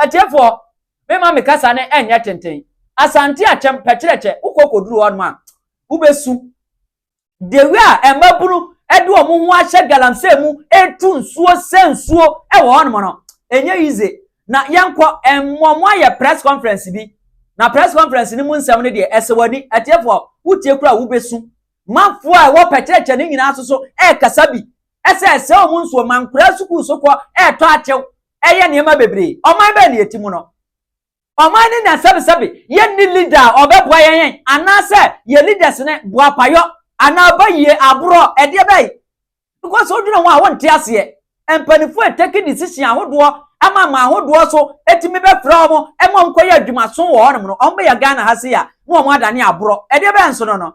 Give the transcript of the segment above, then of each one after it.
Atiefoɔ, mema me kasa no ɛnyɛ tenten. Asante akyɛm pɛkyerɛkyɛ, wokɔ kɔduru hɔnom a, wobɛsu. Dewi a mmabunu de wɔn ho ahyɛ galamsey mu retu nsuo sɛ nsuo wɔ hɔnom no, ɛnyɛ easy. Na yɛnkɔ, mmɔ mo ayɛ press conference bi. Na press conference no mu nsɛm no deɛ, ɛsɛ w'ani. Atiefoɔ, wotie koraa a, wobɛsu. Manfoɔ a ɛwɔ pɛkyerɛkyɛ no nyinaa nso so rekasa bi sɛ ɛsɛ wɔn nsuo. Mankoraa sukuu so kɔ retɔ akyew. ɛyɛ nneɛma bebree. Ɔman bɛn na yɛte mu no? Ɔman no nya sɛbesɛbe, yɛnni leader a ɔbɛboa yɛn yɛn, anaasɛ yɛn leaders no boapayɔ anaa bayie, aborɔ, ɛdeɛ bɛn? Because sɛ wodwene ho a wonte aseɛ. Mpanimfoɔ retake decision ahodoɔ ama aman ahodoɔ so tumi bɛfrɛ wɔn ma wɔnkɔyɛ adwumaso wɔ hɔnom no, wɔbɛyɛ Ghana ha sei a na wɔn adane aborɔ, ɛdeɛ bɛn nso no no?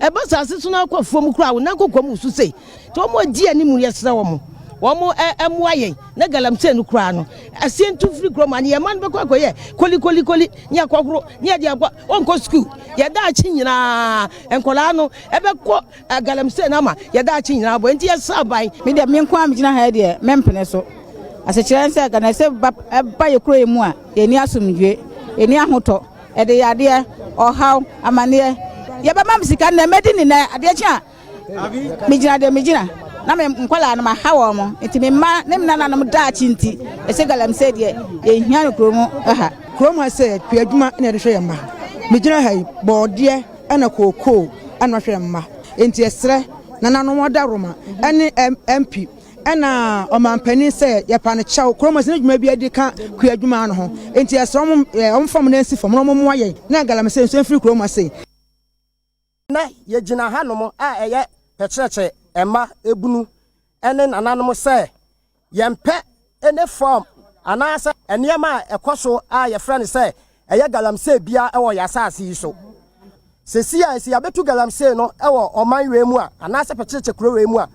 Ɛba asase so na akɔ fam koraa wo nan kɔkɔm wusu sei nti wɔn a di anim no yɛsrɛ wɔn wɔn ɛmoa eh, yɛn na galamsey no koraa no asie ntu firi kurom a ne yɛn mma no bɛkɔ akɔyɛ kolikolikoli ne akɔhoro ne ɛde akɔ ɔnkɔ sukuu yɛda akyi nyinaa nkɔlaa no ɛbɛkɔ eh, galamsey no ama yɛda akyi nyinaa bɔ nti yɛsrɛ aban. me deɛ me nko a megyina ha deɛ mempene so asekyerɛ sɛ ghana sɛ ba yɛ kuro yi mu a yɛni asomdwe yɛni ahotɔ Ɛde yadeɛ, ɔhaw, amaneɛ, yɛbɛma me sika nnɛ, mɛdi ni nnɛ, adeɛ kye a megyina deɛ megyina na me nkwadaa no maha wɔn mo nti me mma ne me nananom daakye nti ɛsɛ galamsey deɛ yɛhia no kurom ha. Kurom ha sɛ pia adwuma na yɛde hwɛ yɛn mma. Megyina ha yi bɔɔdeɛ ɛna kookoo ɛna hwɛ yɛn mma nti yɛsrɛ nananom adaworoma ɛne MP Ɛna ɔmanpanin sɛ yɛpa no kyɛw kurom ɛsɛ ne dwuma bi adi ka kua adwuma no ho enti yɛsrɛ wɔn wɔn fam na nsi fam na wɔn mmoa yɛn na galamsey nso mfiri kurom ase. Nnɛ yɛgyina hanom a ɛyɛ pɛkyerɛkyerɛ mma ebunu ne nananom sɛ yɛmpɛ any form anaasɛ nneɛma a ɛkɔ so a yɛfrɛ no sɛ ɛyɛ galamsey biara wɔ yɛn asase yi so. Seesei a, sɛ yɛabɛtu galamsey no wɔ ɔman wei mu a, anaasɛ pɛkyerɛkyɛ kuro wei mu a,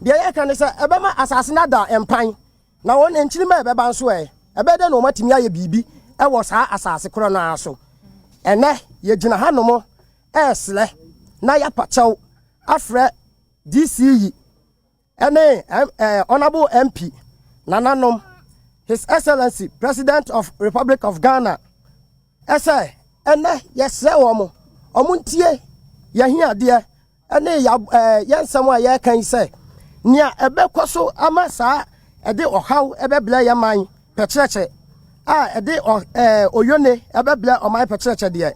deɛ yɛka ne sɛ ɛbɛma asase no ada mpan, na wɔn nkyirima a ɛbɛba nso ɛ? Ɛbɛyɛ dɛn na wɔatumi ayɛ biribi wɔ saa asase korɔ no ara so? Ɛnnɛ, yɛgyina hanom resrɛ na yɛapa kyɛw afrɛ DC yi Ɛne Honourable MP, Nananom, His Excellency President of Republic of Ghana, ɛsɛ ɛnɛ yɛsrɛ wɔn, wɔn ntie yɛahiadeɛ ɛne yɛn nsɛm a yɛreka yi sɛ, nea ɛbɛkɔ so ama saa ɛde ɔhaw ɛbɛbrɛ yɛn man pɛkyerɛkyɛ a ɛde ɔ ɛɛ oyone ɛbɛbrɛ ɔman pɛkyerɛkyɛ deɛ,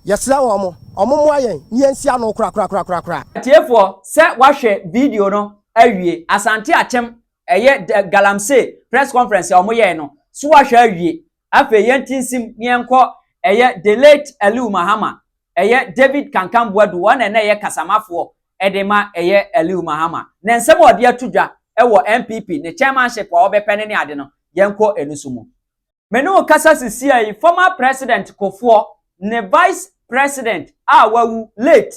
yɛsrɛ wɔn, wɔn mmoa yɛn na yɛnsi ano korakorakorakoraa. Atiefoɔ, sɛ woahwɛ video no awie, Asante Akyem, ɛyɛ the Galamsey press conference a wɔn yɛɛ no, so woahwɛ awie? Afei yɛnte nsim na yɛnkɔ ɛyɛ the late Aliu Mahama, ɛyɛ David Kankan Boadu, wɔn na na ɛyɛ kasamafoɔ de ma ɛyɛ Aliu Mahama ne nsɛm a ɔde ato dwa wɔ NPP ne chairmanship a ɔbɛpɛ no ne ade no, yɛnkɔ ɛnusu mu. Me ne wo kasa sisiaa yi, former President Kofoɔ ne Vice President a wawu, late,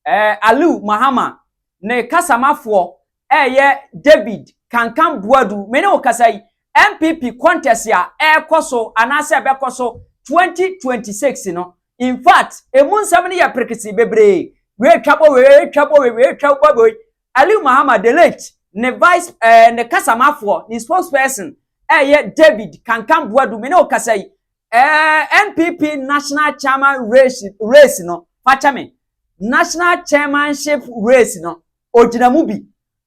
eh, Aliu Mahama ne kasamafoɔ Ɛyɛ David Kankan Boadu. Me ne wo kasa yi, NPP contest a ɛrekɔ so anaasɛ ɛbɛkɔ so 2026 no, in fact, emu nsɛm no yɛ perekese bebree. Wei retwa bɔ wei, wei retwa bɔ wei, wei retwa bɔ wei. Aliu Mahama, the late, ne vice, eh, ne kasamafoɔ, ne spokesperson, ɛyɛ David Kankan Boadu. Me ne wo kasa yi, eh, NPP national chairman race, race no, fakyɛ me, national chairmanship race no, ɔgyina mu bi.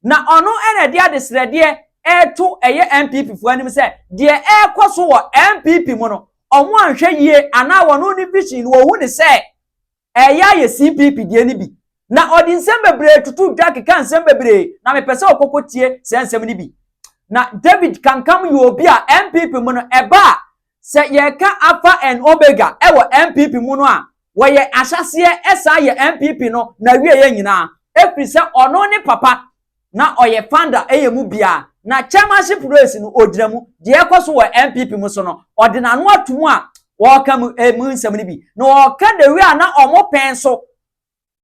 Na ɔno na ɛde adesrɛdeɛ reto ɛyɛ NPP foɔ anim sɛ deɛ ɛrekɔ so wɔ NPP mu no wɔn anhwɛ yie anaa wɔn ne vision no wɔhu ne sɛ ɛyɛ ayɛ CPP deɛ no bi. Na ɔde nsɛm bebree tutu dwa keka nsɛm bebree na mepɛ sɛ ɔkɔkɔ tie saa nsɛm no bi. Na David Kankam yɛ obi a NPP mu no ɛba a Sɛ yɛreka Alpha and Omega wɔ NPP mu no a, wɔyɛ ahyɛaseɛ san yɛ NPP no n'awieɛ nyinaa, ɛfiri sɛ ɔno ne papa na ɔyɛ founder yɛ mu biara, na chairmanship race no ɔgyina mu, deɛ ɛrekɔ so wɔ NPP mu so no ɔde n'ano ato mu a ɔreka mu nsɛm no bi, na ɔreka the way a na wɔpɛn so.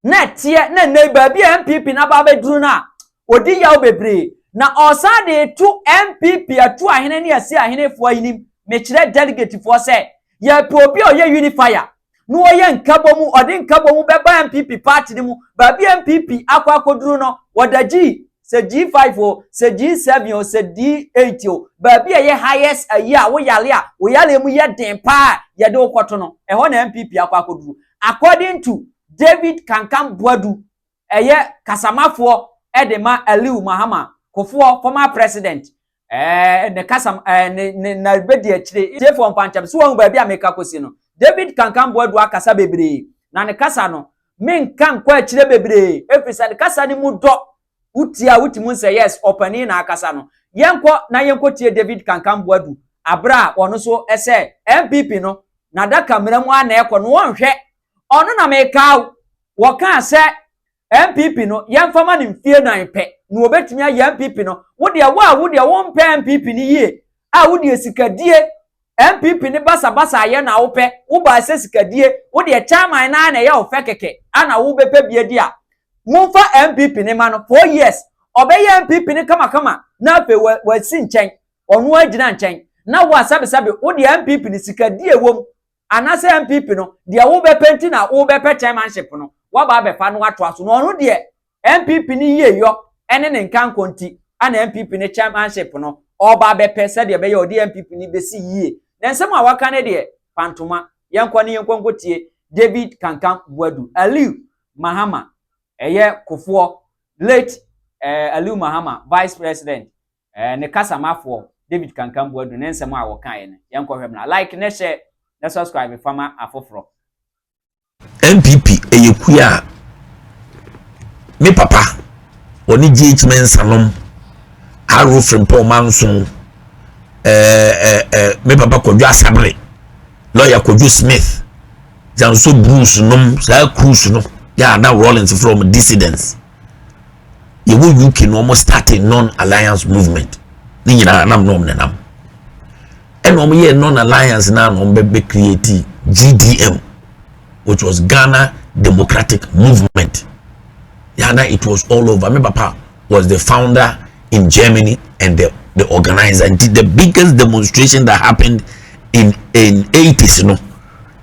na ɛteɛ na nnɛ baabi a npp no aba abɛduru no a ɔdi yaw bebree na ɔresan de to npp atu ahene ne asi ahenefoɔ anim mekyerɛ delegatefoɔ sɛ yɛpɛ obi a ɔyɛ unifier na ɔyɛ nkabɔ mu ɔde nkabɔ mu bɛba npp party no mu baabi a npp akɔ akɔduru no wɔda gyi sɛ G5 o sɛ G7 o sɛ D8 o baabi a ɛyɛ highest ayi a woyale a woyale mu yɛ den paa yɛde wokɔto no ɛhɔ na npp akɔ akɔduru According to David Kankan Boadu, ɛyɛ kasamafoɔ de ma Aliu Mahama Kofoɔ, former president, ɛɛ ne kasa ɛɛ ne ne na bɛdi akyire. Tiefoɔ mpantɛm, so wɔn baabi a meka akɔsi no? David Kankan Boadu akasa bebree, na ne kasa no, menka nkɔ akyire bebree, ɛfiri sɛ ne kasa no mu dɔ, Wo tie a wotumi hu sɛ yes ɔpanin na akasa no. Yɛnkɔ na yɛnkɔtie David Kankanbo Adu aberɛ a ɔno nso sɛ NPP no n'adaka mmara mu ara na ɛkɔ no wɔnhwɛ. Ɔno na mekaa wo, wɔkaa sɛ NPP no yɛmfa ma no mfie nan pɛ na ɔbɛtumi ayɛ NPP no. Wo deɛ wo a wo deɛ wompɛ NPP no yie a wo deɛ sikadie NPP ne basabasaayɛ na wo pɛ, wo baa sɛ sikadie, wo deɛ chairman no ara na ɛyɛ wo fɛ kɛkɛ ana wo bɛ pɛ bi adi a, mo nfa NPP no ma no, four years ɔbɛ yɛ NPP no kamakama na afei wa wa si nkyɛn, ɔno ara gyina nkyɛn, na wo a sɛbesɛbe wo deɛ NPP no sikadie ɛwɔ mu ana sɛ NPP no deɛ wo bɛ pɛ nti na wo bɛ pɛ chairmanship no, wa ba abɛ fa no atoa so, na ɔno deɛ NPP ne yieyɔ ne ne nkankɔ nti na NPP ne chairmanship no ɔɔba abɛpɛ sɛdeɛ ɛbɛyɛ a ɔde NPP no bɛsi yie. Na nsɛm a waka no deɛ, pantoma. Yɛnkɔ ne yɛnkɔ nkɔtie David Kankam Boadu, Aliu Mahama, ɛyɛ Kofoɔ, late eh, Aliu Mahama, Vice President, eh, ne kasamafoɔ David Kankam Boadu ne nsɛm a wɔkaeɛ no. Yɛnkɔhwɛ mmra. Like ne share ne subscribe fama afoforɔ. NPP ɛyɛ kua a me papa wɔne GH Mensah nom Aro Frimpong Manso ɛɛ eh, ɛɛ eh, eh, me papa Kwadwo Asabere lɔya Kwadwo Smith Janso Bruce nom saa cruise no yɛ ana Rawlings from dissidents yɛwɔ UK na wɔn starting non-alliance movement ne nyinaa nam nom nenam. Ɛna wɔn yɛ non alliance na wɔn bɛ bɛ create GDM which was Ghana Democratic Movement. Yana it was all over. Me papa was the founder in Germany and the the organizer. And the biggest demonstration that happened in in 80s no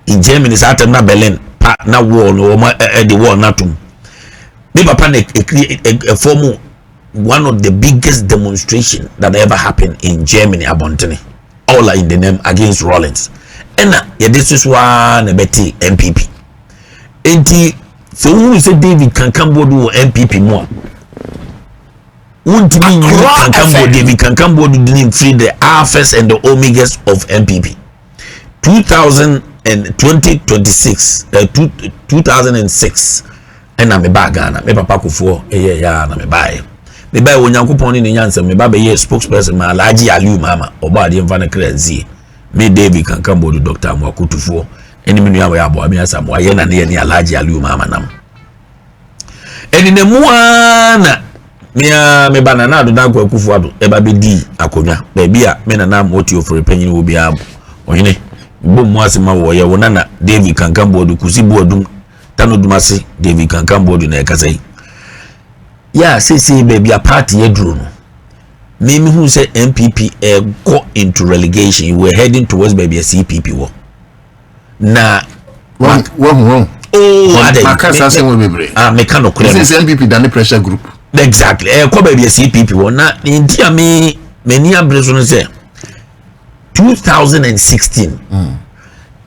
in Germany is at na Berlin pa na wall no wɔn ɛde wall na tum. Me papa na ekiri ɛfɔmu one of the biggest demonstration that ever happened in Germany abɔntene all are in the name against Rollins ɛna yɛde soso aa na ɛbɛte NPP nti sɛ wohunu sɛ David kankanboɔ bi wɔ NPP mu a wontumi nyi kankanboɔ David kankanboɔ do dini mfiri the alphas and the omegas of NPP two thousand and twenty twenty six ɛɛ eh, two two thousand and six ɛna me baa ghana me papa kofoɔ ɛyɛ ɛyɛ a na me baa yɛ me baa yɛ onyankopɔn ne ne nyansa me ba bɛyɛ spokesperson ma alhaji aliu mama ɔbɔ adeɛ nfa ne kra nsie me david kankan bɔdu dr amoakotufoɔ ɛne me nua wɔyɛ aboa me asa mo ayɛ na ne yɛ ne alhaji aliu mama nam. ɛnenam mu ara na me ara me ba Nana Ado Dankwa Akufo-Addo ɛba bɛdii akonnwa baabi a me Nana Amooti Ofori panyin wɔ biara mu. Ɔhene, bɔ mu ase ma wɔ yɛ wo nana David Kankan Boadu Kusi Boadum Tano Dumase David Kankan Boadu na ɛkasa yi. Yɛ a seesei baabi a party aduro no, me mehu sɛ NPP ɛkɔ into relegation, we were heading towards baabi a CPP wɔ. na wahu wahu ooo oh, adɛ maka saa sɛ wɔn bebree ah meka no korɛ no sɛ npp da ne pressure group exactly ɛɛ eh, kɔ baabi ɛsi npp wɔ na ne nti a me m'ani abere so no sɛ two thousand and sixteen hmm.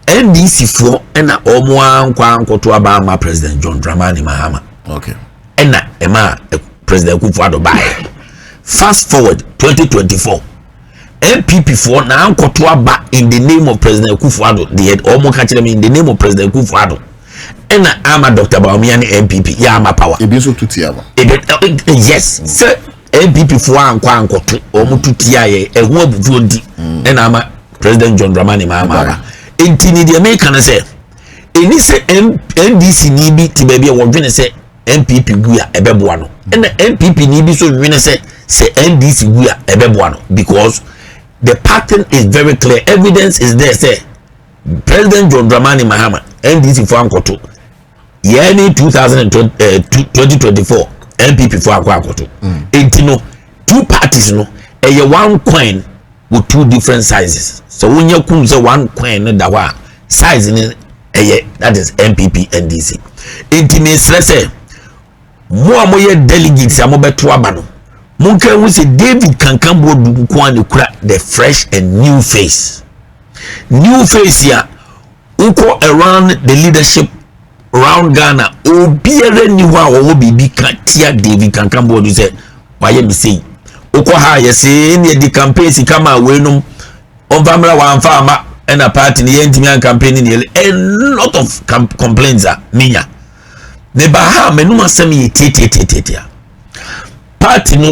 ndc foɔ ɛna wɔn ankɔ ankɔto aba ama president john dramani mahama okay ɛna ɛma eh, president kufu ado baayɛ fast forward twenty twenty four. npp foɔ na ankɔto aba in the name of president akufo ado deɛ wɔn ka kyerɛ me in the name of president akufo ado ɛna ama dr baomia ne npp yɛ ama power. ebi nso tu tia no. ebi yes mm. sɛ npp foɔ ankɔ ankɔto wɔn tu tia yɛ ɛho abufuo nti mm. ɛna ama president john dramani maa maa ba nti ni deɛ meka no sɛ ɛni sɛ ndc ni bi te baabi a wɔdwene sɛ. NPP wu a ɛbɛboa no ɛna NPP ni bi nso nwene sɛ sɛ NDC wu a ɛbɛboa no because the pattern is very clear evidence is there sɛ President John Dramani Mahama NDC fo ankɔto yɛn ni 2024 NPP fo akɔ akɔto eti no. two parties no ɛyɛ one coin wɔ two different sizes sɛ wonya kum sɛ one coin no da hɔ a size no ɛyɛ that is npp ndc nti mesrɛ sɛ mo a moyɛ delegates a mobɛto aba no monka hu sɛ david kankan boɔ du nko a ne kura the fresh and new face new face a Wokɔ around the leadership round Ghana obiara nni hɔ a wɔwɔ biribi ka tia David Kankan Boadu sɛ wayɛ me sei. Wokɔ ha a yɛsee ne yɛde campaign sika ma weinom ɔmfa mmra wamfa ama ɛna party ne yɛntumi an campaign ne yɛle a lot of complaints a menya. Meba ha a m'anum asɛm yɛ tiatiatiatia. Party no